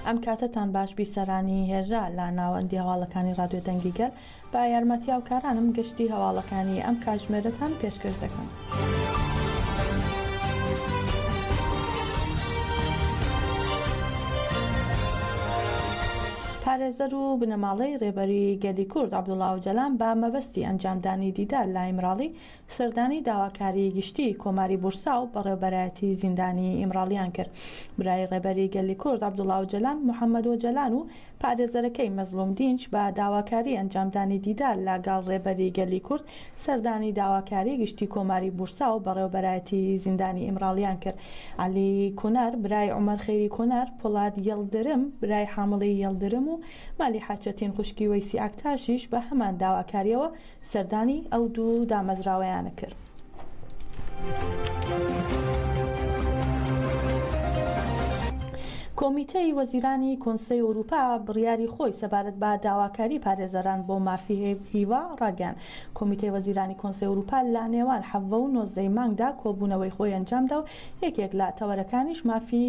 ئەم کاتەتان باش بیسەرانی هێژا لە ناوەندی هەواڵەکانی ڕادیۆ دەنگی گەل بە یارمەتی هاوکارانم گشتی هەواڵەکانی ئەم کاتژمێرەتان پێشکەش دەکەم. پارێزەر و بنەماڵەی رێبەری گەلی کورد عەبدوڵا ئۆجالان بە مەبەستی ئەنجامدانی دیدار لە ئیمراڵی سەردانی داواکاری گشتیی کۆماری بورسا و بەڕێوبەرایەتیی زیندانی ئیمراڵییان کرد. برای ڕێبەری گەلی کورد عەبدوڵا ئۆجەلان، محەمەد ئۆجەلان و پارێزەرەکەی مەزڵوم دینچ بە داواکاری ئەنجامدانی دیدار لە گەڵ ڕێبەری گەلی کورد سەردانی داواکاری گشتیی کۆماری بورسا و بەڕێوبەرایەتیی زیندانی ئیمراڵییان کرد. عەلی کۆنار برای عومەر خەیری کۆنار، پۆڵاد یڵدرم برای حامڵی یڵدرم و مالیحە چەتین خوشکی وەیسی ئاکتاشیش بە هەمان داواکارییەوە سەردانی ئەو دوو دامەزراوەیانە کرد. کۆمیتەی وەزیرانی کۆنسەی ئەوروپا بڕیاری خۆی سەبارەت بە داواکاری پارێزەران بۆ مافی هیوا ڕاگەیاند کۆمیتەی وەزیرانی کۆنسەی ئەوروپا لە نێوان حەڤە و نۆزدەی مانگدا کۆبوونەوەی خۆی ئەنجامدا و یەکێک لە تەوەرەکانیش مافی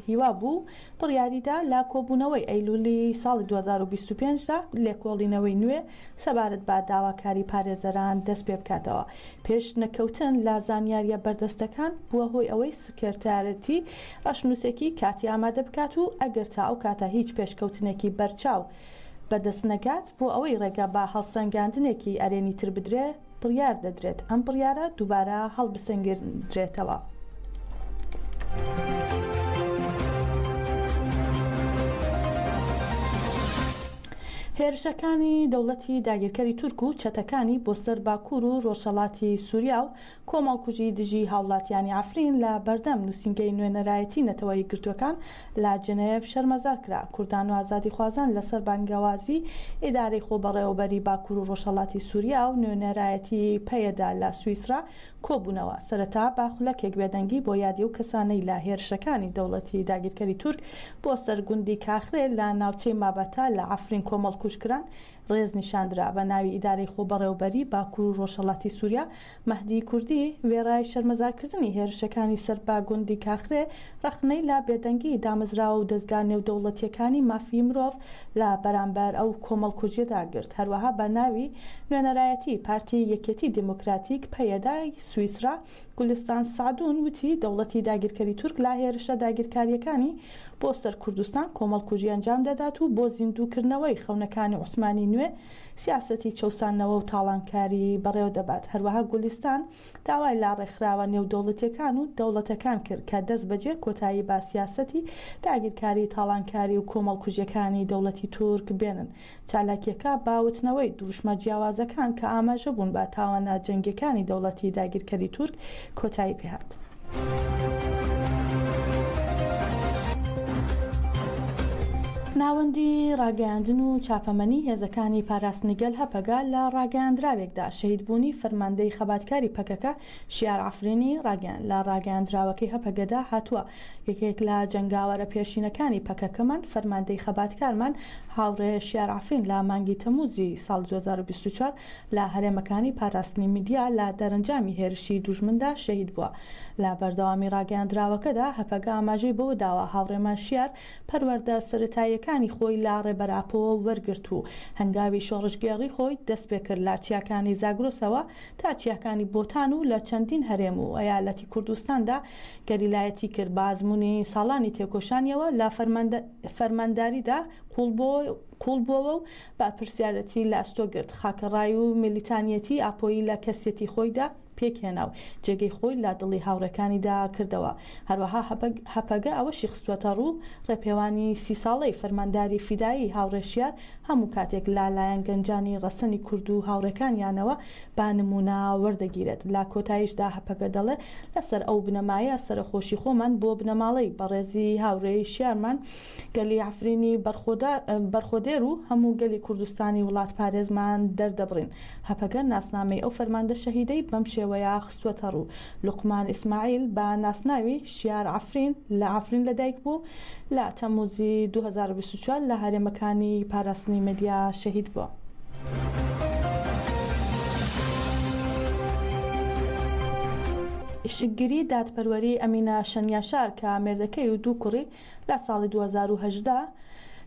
هیوا بوو بڕیاریدا لە کۆبوونەوەی ئەیلولی ساڵی دوو هەزار و بیست و پێنج دا لێکۆڵینەوەی نوێ سەبارەت بە داواکاری پارێزەران دەست پێ بکاتەوە. پێش نەکەوتن لە زانیارییە بەردەستەکان بووە هۆی ئەوەی سکرتێرەتی ڕەشنووسێکی کاتی ئامادە بکات و ئەگەر تا ئەو کاتە هیچ پێشکەوتنێکی بەرچاو بەدەست نەگات بۆ ئەوەی ڕێگە بە هەڵسەنگاندنێکی ئەرێنی تر بدرێ، بڕیار دەدرێت ئەم بڕیارە دووبارە هەڵبسەنگێندرێتەوە. هێرشەکانی دەوڵەتی داگیرکەری تورک و چەتەکانی بۆ سەر باکوور و ڕۆژهەڵاتی سووریا و کۆمەڵکوژی دژی هاوڵاتیانی عەفرین لە بەردەم نووسینگەی نوێنەرایەتی نەتەوە یەکگرتووەکان لە جنێف شەرمەزار کرا، کوردان و ئازادیخوازان لەسەر بانگەوازی ئیدارەی خۆبەڕێوەبەری باکور و ڕۆژهەڵاتی سوریا و نوێنەرایەتی پەیەدە لە سویسرا کۆبوونەوە، سەرەتا بە خولەکێک بێدەنگی بۆ یادی ئەو کەسانەی لە هێرشەکانی دەوڵەتی داگیرکەری تورک بۆ سەر گوندی کاخرێ لە ناوچەی مابەتا لە عەفرین کۆمەڵکوژ کران ڕێز نیشاندرا، بە ناوی ئیدارەی خۆبەڕێوەبەری باکور و ڕۆژهەڵاتی سوریا مەهدی کوردی وێڕای شەرمەزارکردنی هێرشەکانی سەر بە گوندی کاخرێ، ڕەخنەی لە بێدەنگیی دامەزراوە و دەزگا نێودەوڵەتییەکانی مافی مرۆڤ لە بەرامبەر ئەو کۆمەڵکوژییەدا گرت، هەروەها بە ناوی نوێنەرایەتیی پارتی یەکێتی دیموکراتیک، پەیەدە، ی سویسڕا، گولستان سەعدون وتی، دەوڵەتی داگیرکەری تورک لە هێرشە داگیرکارییەکانی بۆ سەر کوردستان کۆمەڵکوژی ئەنجام دەدات و بۆ زیندووکردنەوەی خەونەکانی عوسمانی نوێ سیاسەتی چەوساندنەوە و تاڵانکاری بەڕێوە دەبات. هەروەها گولیستان داوای لە ڕێکخراوە نێودەوڵەتییەکان و دەوڵەتەکان کرد کە دەستبەجێ کۆتایی بە سیاسەتی داگیرکاری، تاڵانکاری و کۆمەڵکوژییەکانی دەوڵەتی تورک بێنن. چالاکییەکە بە وتنەوەی دروشمە جیاوازەکان کە ئاماژە بوون بە تاوانە جەنگییەکانی دەوڵەتی داگیرکەری تورک کۆتایی پێهات. ناوەندی ڕاگەیاندن و چاپەمەنی هێزەکانی پاراستنی گەل هەپەگە لە ڕاگەیاندراوێکدا شەهیدبوونی فەرماندەی خەباتکاری پەکەکە شیار عەفرینی ڕاگەیاند. لە ڕاگەیاندراوەکەی هەپەگەدا هاتووە، یەکێک لە جەنگاوەرە پێشینەکانی پەکەکەمان، فەرماندەی خەباتکارمان هاوڕێ شیار عەفرین لە مانگی تەمووزی ساڵی دوو هەزار و بیست و چوار لە هەرێمەکانی پاراستنی میدیا لە دەرەنجامی هێرشی دوژمندا شەهید بووە. لە بەردەوامی ڕاگەیاندراوەکەدا هەپەگە ئاماژەی بەوە داوە، هاوڕێمان شیار پەروەردە سەرەتاییەکانی خۆی لە ڕێبەر ئاپۆوە وەرگرت و هەنگاوی شۆڕشگێڕی خۆی دەستپێکرد لە چیاکانی زاگرۆسەوە تا چیاکانی بۆتان و لە چەندین هەرێم و ئەیالەتی کوردستاندا گەریلایەتی کرد بە ئەزموونی ساڵانی تێکۆشانیەوە لە فەرمانداریدا قووڵ بووەوە و بەپرسیارێتی لەئەستۆ گرت، خاکەڕای و میلیتانیەتی ئاپۆیی لە کەسیەتی خۆیدا پێک هێنا و جێگەی خۆی لە دڵی هاوڕێکانیدا کردەوە. هەروەها هەپەگە ئەوەشی خستووەتە ڕوو، ڕێپێوانی سی ساڵەی فەرمانداری فیدایی هاوڕێ شیار هەموو کاتێک لە لایەن گەنجانی ڕەسەنی کورد و هاوڕێکانیانەوە بە نموونە وەردەگیرێت. لە کۆتاییشدا هەپەگە دەڵێ، لەسەر ئەو بنەمایە سەرەخۆشی خۆمان بۆ بنەماڵەی بەڕێزی هاوڕێی شیارمان گەلی عەفرینی بەرخۆدێر و هەموو گەلی کوردستانی وڵاتپارێزمان دەردەبڕین. هەپەگە ناسنامەی ئەو فەرماندە شەهیدەی بەم شێوەیە خستووەتەڕوو، لوقمان ئیسماعیل بە ناسناوی، شیار عەفرین، لە عەفرین لەدایکبوو، لە تەمموزی دوو هەزار و بیست و چوار لە هەرێمەکانی پاراستنی مەدیا شەهید بووە. ئیشکگری دادپەروەری ئەمینە شەنیاشار کە مێردەکەی و دوو کوڕی لە ساڵی دوو هەزار و هەژدە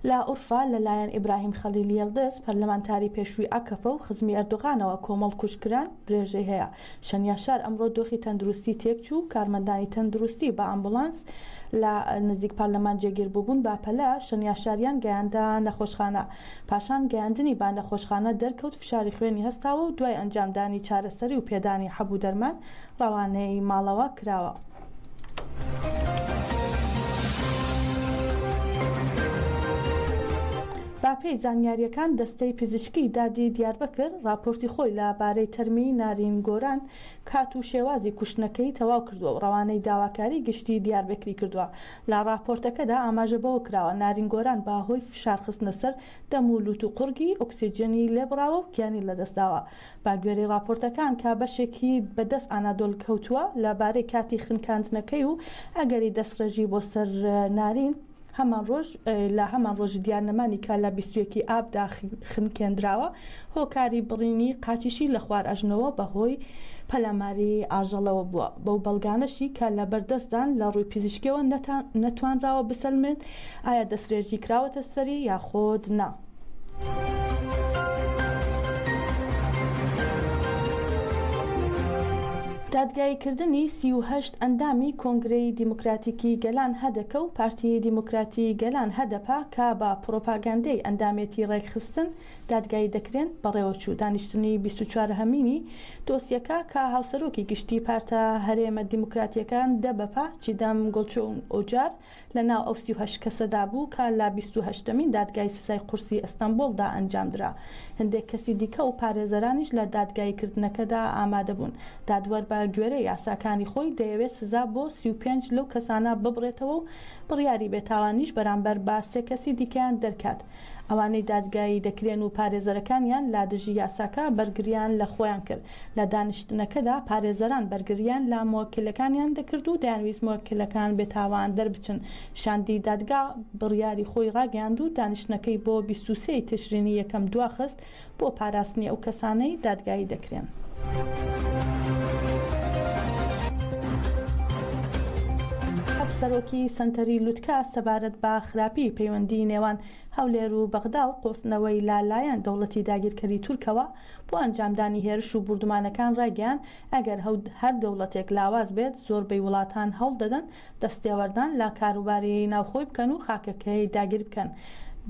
لە ئورفا لە لایەن ئیبراهیم خەلیل یێلدز، پەرلەمانتاری پێشووی ئاکەپە و خزمی ئەردۆغانەوە کۆمەڵ کوژ کران، درێژەی هەیە. شەنیا شار ئەمڕۆ دۆخی تەندروستی تێکچوو و کارمەندانی تەندروستی بە ئامبولانس لە نزیک پەرلەمان جێگیر بووبوون بە پەلە شەنیا شاریان گەیاندە نەخۆشخانە. پاشان گەیاندنی بە نەخۆشخانە دەرکەوت فشاری خوێنی هەستاوە و دوای ئەنجامدانی چارەسەری و پێدانی حەب و دەرمان ڕەوانەی ماڵەوە کراوە. بەپێی زانیارییەکان دەستەی پزیشکی دادی دیاربەکر ڕاپۆرتی خۆی لە بارەی تەرمی نارین گۆران کات و شێوازی کوشتنەکەی تەواو کردووە و ڕەوانەی داواکاری گشتی دیاربەکری کردووە لە ڕاپۆرتەکەدا ئاماژە بەوە کراوە نارین گۆران بە هۆی فشار خستنە سەر دەم و لوت و قوڕگی ئۆکسجێنی لێبڕاوە و گیانی لەدەستداوە بە گوێرەی ڕاپۆرتەکان کە بەشێکی بە دەست ئانادۆل کەوتووە لە بارەی کاتی خنکاندنەکەی و ئەگەری دەستڕێژی بۆ سەر نارین، هەمان ڕۆژ لە هەمان ڕۆژی دیارنەمانی کە لە بیست و یەک ی ئاب دا خنکێندراوە، هۆکاری بڕینی قاچیشی لە خوار ئەژنۆوە بە هۆی پەلاماری ئاژەڵەوە بووە، بەو بەڵگانەشی کە لە بەر دەست دان لە ڕووی پزیشکیەوە نەتوانراوە بسەلمرێن ئایا دەسترێژی کراوەتە سەری یاخود نا. دادگاییکردنی سی و هەشت ئەندامی کۆنگرەی دیموکراتیکی گەلان هەدەکە و پارتی دیموکراتی گەلان هەدەپە کە بە پڕۆپاگاندەی ئەندامێتی ڕێکخستن دادگایی دەکرێن بەڕێوەچوو دانیشتنی بیست و چوار هەمینی دۆسیەکە کە هاوسەرۆکی گشتی پارتە هەرێمە دیموکراتیەکان دەبەپە چیدەم گۆلچۆنگ ئۆجار لە ناو ئەو سی و هەشت کەسەدا بوو کە لە بیست و هەشتەمین دادگای سزای قورسی ئەستەنبوڵدا ئەنجامدرا. هەندێک کەسی دیکە و پارێزەرانیش لە دادگاییکردنەکەدا ئامادەبوون. دادوەر بە گوێرەی یاساکانی خۆی دەیەوێت سزا بۆ سی و پێنج لەو کەسانە ببڕێتەوە و بڕیاری بێتاوانیش بەرامبەر بە سێ کەسی دیکەیان دەرکات ئەوانەی دادگایی دەکرێن و پارێزەرەکانیان لادژی یاساکە بەرگرییان لە خۆیان کرد لە دانیشتنەکەدا پارێزەران بەرگرییان لە موەکیلەکانیان دەکرد و دەیانویست موەکیلەکان بێتاوان دەربچن. شاندی دادگا بڕیاری خۆی راگەیاند و دانیشتنەکەی بۆ بیست و سێ ی تشرینی یەکەم دواخست بۆ پاراستنی ئەو کەسانەی دادگایی دەکرێن. سەرۆکی سەنتەری لوتکە سەبارەت بە خراپی پەیوەندی نێوان هەولێر و بەغدا و قۆستنەوەی لە لایەن دەوڵەتی داگیرکەری تورکەوە، بۆ ئەنجامدانی هێرش و بوردومانەکان ڕایگەیاند، ئەگەر هەر دەوڵەتێک لاواز بێت، زۆربەی وڵاتان هەوڵ دەدەن دەستێوەردان لە کاروباری ناوخۆی بکەن و خاکەکەی داگیر بکەن.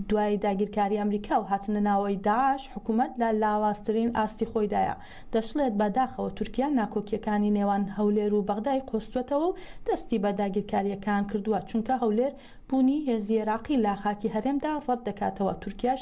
دوای داگیرکاری ئەمریکا و هاتنە ناوەوەی داعش، حکومەت لە لاوازترین ئاستی خۆیدایە. دەشڵێت، بە داخەوە تورکیا ناکۆکییەکانی نێوان هەولێر و بەغدای قۆستووەتەوە و دەستی بە داگیرکارییەکان کردووە، چونکە هەولێر بوونی هێزی عێراقی لە خاکی هەرێمدا ڕەت دەکاتەوە، تورکیاش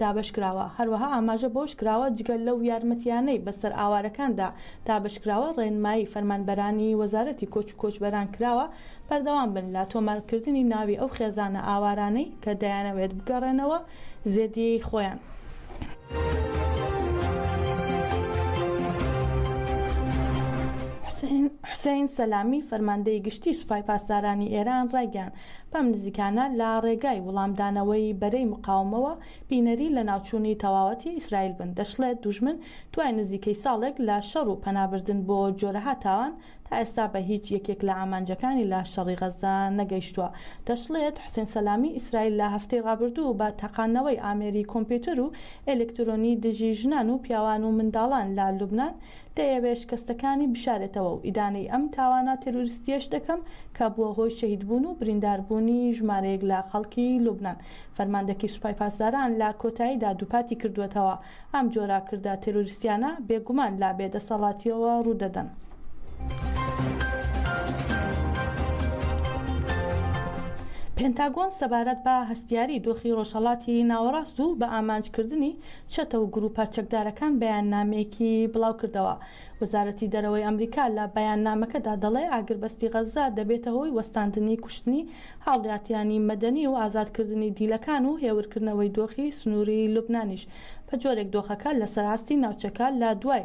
دابەشکراوە، هەروەها ئاماژە بەوەشکراوە، جگە لەو یارمەتییانەی بەسەر ئاوارەکاندا دابەشکراوە، ڕێنمایی فەرمانبەرانی وەزارەتی کۆچ و کۆچبەران کراوە بەردەوام بن لە تۆمارکردنی ناوی ئەو خێزانە ئاوارانەی کە دەیانەوێت بگەڕێنەوە زێدیی خۆیان. حوسەین سەلامی، فەرماندەی گشتیی سوپای پاسدارانی ئێران ڕایگەیاند، بەم نزیکانە لە ڕێگای وڵامدانەوەی بەرەی مقاومەوە بینەری لەناوچوونی تەواوەتی ئیسرائیل بن، دەشڵێت، دوژمن دوای نزیکەی ساڵێک لە شەڕ و پەنابردن بۆ جۆرەها تاوان، تا ئێستا بە هیچ یەکێک لە ئامانجەکانی لە شەڕی غەززە نەگەیشتووە. دەشڵێت، حوسێن سەلامی، ئیسرائیل لە هەفتەی ڕابردوو بە تەقاندنەوەی ئامێری کۆمپیوتەر و ئێلکترۆنی دژی ژنان و پیاوان و منداڵان لە لوبنان، دەیەوێت شکەستەکانی بشارێتەوە و ئیدانەی ئەم تاوانە تێرۆریستییەش دەکەم کە بووە هۆی شەهیدبوون و برینداربوونی ژمارەیەک لە خەڵکی لوبنان. فەرماندەکەی سوپای پاسداران لە کۆتاییدا دووپاتی کردووەتەوە، ئەم جۆرە کردە تێرۆریستییانە بێگومان لە بێدەسەڵاتییەوە ڕوودەدەن. پێنتاگۆن سەبارەت بە هەستیاری دۆخی ڕۆژهەڵاتی ناوەڕاست و بە ئامانجکردنی چەتە و گرووپە چەکدارەکان بەیاننامەیەکی بڵاوکردەوە. وەزارەتی دەرەوەی ئەمریکا لە بەیاننامەکەدا دەڵێ ئاگربەستی غەززە دەبێتە هۆی وەستاندنی کوشتنی هاوڵاتیانی مەدەنی و ئازادکردنی دیلەکان و هێورکردنەوەی دۆخی سنووری لوبنانیش بەجۆرێک دۆخەکە لەسەر ئاستی ناوچەکە لە دوای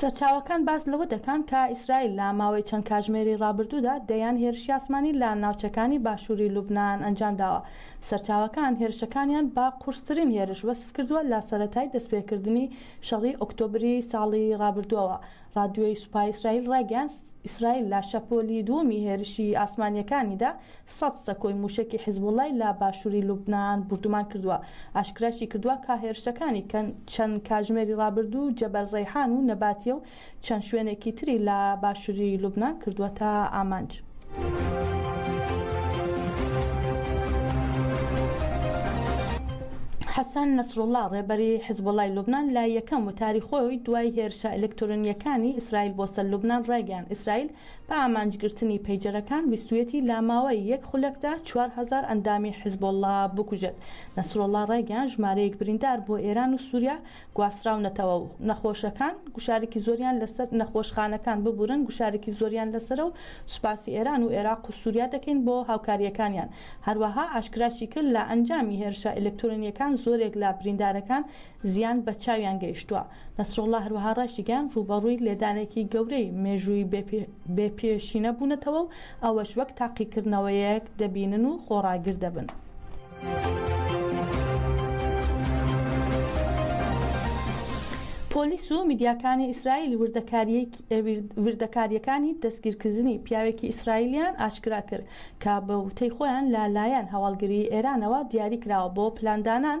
سەرچاوەکان باس لەوە دەکەن کە ئیسرائیل لە ماوەی چەند کاژمێری ڕابردوودا دەیان هێرشی ئاسمانی لە ناوچەکانی باشووری لوبنان ئەنجام داوە. سەرچاوەکان هێرشەکانیان بە قورسترین هێرش وەسف کردووە لە سەرەتای دەستپێکردنی شەڕی ئۆکتۆبری ساڵی ڕابردووەوە. ڕادیۆی سوپای ئیسرائیل ڕایگەیاند، ئیسرائیل لە شەپۆلی دووەمی هێرشی ئاسمانییەکانیدا سەد سەکۆی مووشەکی حیزبوڵڵای لە باشووری لوبنان بوردومان کردووە، ئاشکراشیکردووە کە هێرشەکانی کە چەند کاژمێری ڕابردوو جەبەل ڕەیحان و نەباتیە و چەند شوێنێکی تری لە باشووری لوبنان کردووەتە ئامانج. حەسەن نەسروڵڵا، ڕێبەری حیزبوڵڵای لوبنان لە یەکەم وتاری خۆی دوای هێرشە ئەلکترۆنییەکانی ئیسرائیل بۆ سەر لوبنان ڕایگەیاند ئیسرائیل بە ئامانجگرتنی پەیجەرەکان ویستویەتی لە ماوەی یەک خولەکدا چوار هەزار ئەندامی حزبوڵڵا بکوژێت. نەسروڵڵا ڕایگەیاند ژمارەیەک بریندار بۆ ئێران و سوریا گواستراونەتەوە و نەخۆشەکان گوشارێکی زۆریان لەسەر نەخۆشخانەکان ببورن گوشارێکی زۆریان لەسەرە و سوپاسی ئێران و ئێراق و سوریا دەکەین بۆ هاوکارییەکانیان. هەروەها ئاشکراشیکرد لە ئەنجامی هێرشە ئەلکترۆنییەکان زۆرێک لە بریندارەکان زیان بە چاویان گەیشتووە. نەسروڵڵا هەروەها ڕاشیگەیاند، ڕووبەڕووی لێدانێکی گەورەی مێژووی بێ پێشینە بوونەتەوە و ئەوەش وەک تاقیکردنەوەیەک دەبینن و خۆڕاگر دەبن. پۆلیس و میدیاکانی ئیسرائیل وردەکارییەکانی دەستگیرکردنی پیاوێکی ئیسرائیلیان ئاشکرا کرد کە بە وتەی خۆیان لە لایەن هەواڵگریی ئێرانەوە دیاری کراوە بۆ پلاندانان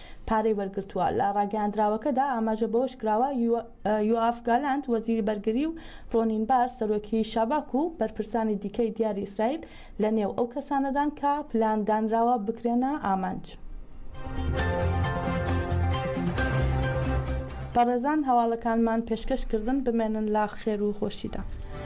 پارەی وەرگرتووە. لە ڕاگەیاندراوەکەدا ئاماژە بەوەشکراوە، یۆئاف گالانت، وەزیری بەرگری و ڕۆنین بار، سەرۆکی شاباک و بەرپرسانی دیکەی دیاری ئیسرائیل لەنێو ئەو کەسانەدان کە پلان دانراوە بکرێنە ئامانج. بەڕێزان هەواڵەکانمان پێشکەش کردن بمێنن لە خێر و خۆشیدا.